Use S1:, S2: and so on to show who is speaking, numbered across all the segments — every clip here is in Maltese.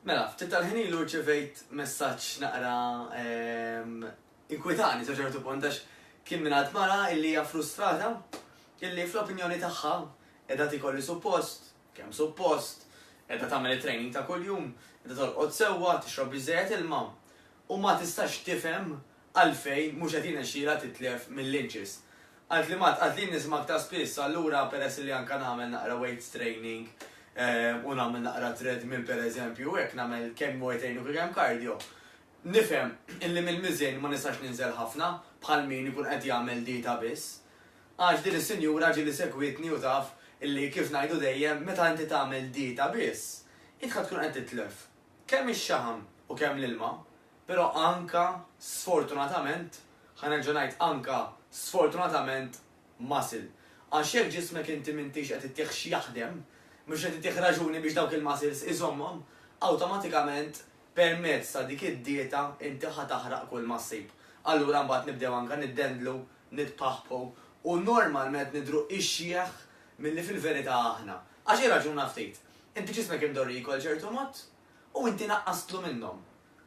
S1: Mela, ftit tal-ħin ilu rċivejt messaġġ naqra ehm, inkwitani sa ċertu punt għax kien minn għad mara illi hija frustrata illi fl-opinjoni tagħha qiegħda tikolli suppost, kemm suppost, qiegħda tagħmel it-training ta' kuljum, qiegħda tolqod sewwa, tixrob biżejjed ilma. u ma tistax tifhem għalfejn mhux qed jirnexxilha titlef mil-Lynch's. Qaltli Matt, qaltli nisma' aktar spiss, allura peress li anke nagħmel naqra weights training u nagħmel naqra treadmill pereżempju u hekk nagħmel kemm weight training u kemm cardio, nifhem illi mill-miżien ma nistax ninżel ħafna bħal min ikun qed jagħmel dieta biss. Għax din is-sinjura ġieli segwietni u taf illi kif ngħidu dejjem meta inti tagħmel dieta biss, idħek tkun qed titlef. kemm ix-xaħam u kemm l-ilma, però anka, sfortunatament, ħa nerġa' ngħid anka, sfortunatament, muscle. Għax jekk ġismek inti m'intix qed ittih x'jaħdem, mhux qed ittih raġuni biex dawk il-muscles iżommhom, awtomatikament permezz ta' dik id-dieta inti ħa taħraq kull ma ssib. Allura mbagħad nibdew anka niddendlu, nitpaħpħu u normalment nidhru ixjeħ milli fil-verità aħna. Għax irraġuna ftit, Inti ġismek indorriku għal ċertu mod u inti naqqastlu minnhom.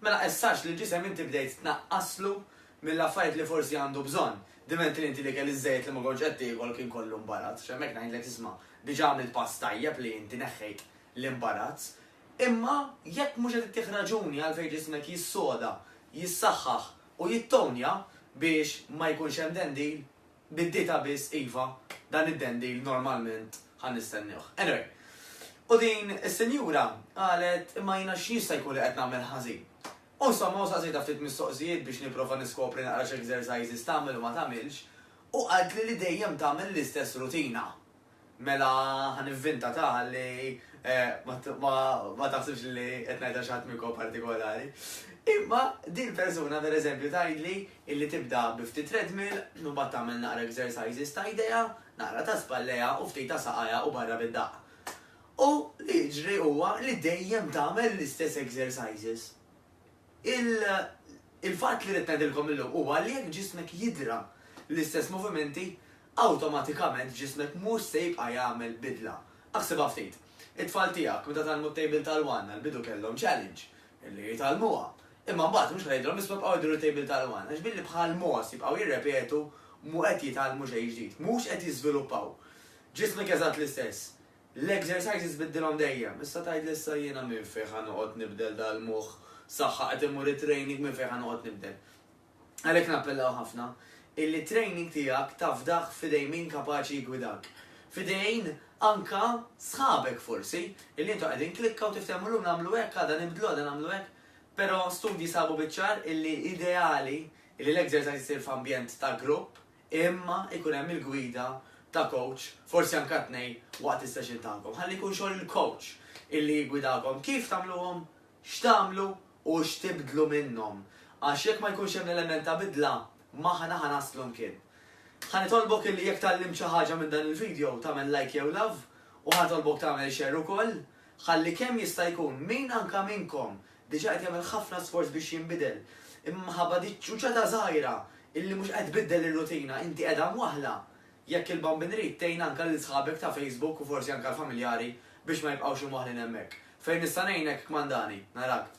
S1: Mela issa għax lill-ġisem inti bdejt tnaqqaslu mill-affarijiet li forsi għandu bżonn, diment li inti l-ikel iż-żejjed li ma kontx qed tiekol kien kollu mbarazz, x'hemmhekk ngħidlek isma' diġà għamilt pass tajjeb li inti neħħejt l-imbarazz. Imma jekk mhux qed ittih raġuni għalfejn ġismek jissoda, jissaħħaħ u jittonja biex ma jkunx hemm dendil, Biddita biss iva, dan id-dendil normalment ħa nistenniewh. Anyway, u din is-sinjura qalet imma jiena x'jista' jkun li qed nagħmel ħażin? U insomma u staqsejtha ftit mistoqsijiet biex nipprova niskopri naqra x'exercises tagħmel u ma tagħmilx u qaltli li dejjem tagħmel l-istess rutina. Mela ħa nivvinta ta ħalli ma taħsibx li qed ngħidha xi ħadd minnkom partikolari. Imma din il-persuna pereżempju tgħidli illi tibda bi ftit treadmill, imbagħad tagħmel naqra exercises ta' idejha, naqra ta' spallejha u ftit ta' saqajha u barra bid-daqq. U li jiġri huwa li dejjem tagħmel l-istess exercises. Il-fatt li rrid ngħidilkom illum huwa li jekk ġismek jidhra l-istess movimenti, awtomatikament ġismek mhux se jibqa' jagħmel bidla. Aħsibha ftit. It-tfal tiegħek meta tgħallmu t-tejbil tal-one għall-bidu kellhom challenge, li jitgħallmuha. Imma mbagħad mhux ħa tgħidilhom isma' ibqgħu idiru t-tejbil tal-one għax billi bħal mogħoż jibqgħu jirrepetu mhu qed jitgħallmu xejn ġdid, mhux qed jiżviluppaw. Ġismek eżatt l-istess. L-exercises biddilhom dejjem. Issa tgħidli issa jiena minn fejn ħa noqgħod nibdel dal-moħħ, saħħa qed immur it-training minn fejn ħa noqgħod nibdel. Għalhekk nappellaw ħafna illi t-training tiegħek tafdah f'idejn min kapaċi jiggwidak. F'idejn anka sħabek forsi, illi intom qegħdin klikka u tiftehmu llum nagħmlu hekk, għada nibdlu, għada nagħmlu hekk. Però studji sabu biċ-ċar illi ideali illi l-exercise isir f'ambjent ta' grupp imma jkun hemm il-gwida ta' coach, forsi anka tnejn, waqt is-session tagħkom. Ħalli jkun xogħol il-coach illi jiggwidakom. Kif tagħmluhom? X'tagħmlu u x'tibdlu minnhom, għax jekk ma jkunx hemm l-element ta' bidla, m'aħna ħa naslu mkien. Ħa nitolbok illi jekk tgħallimt xi ħaġa minn dan il-video tagħmel like jew love u ħa nitolbok tagħmel share ukoll, ħalli kemm jista' jkun min anke minnkom diġà qed jagħmel ħafna sforz biex jinbidel, imma minħabba dik ċuċata żgħira illi mhux qed tbiddel ir-rutina inti qiegħda mwaħħla, Jekk il-Bambin Irid, tgħin anke lil sħabek ta' Facebook u forsi anke l-familjari biex ma jibqgħux imwaħħlin hemmhekk. Fejn nista' ngħinek, kmandani. Narak.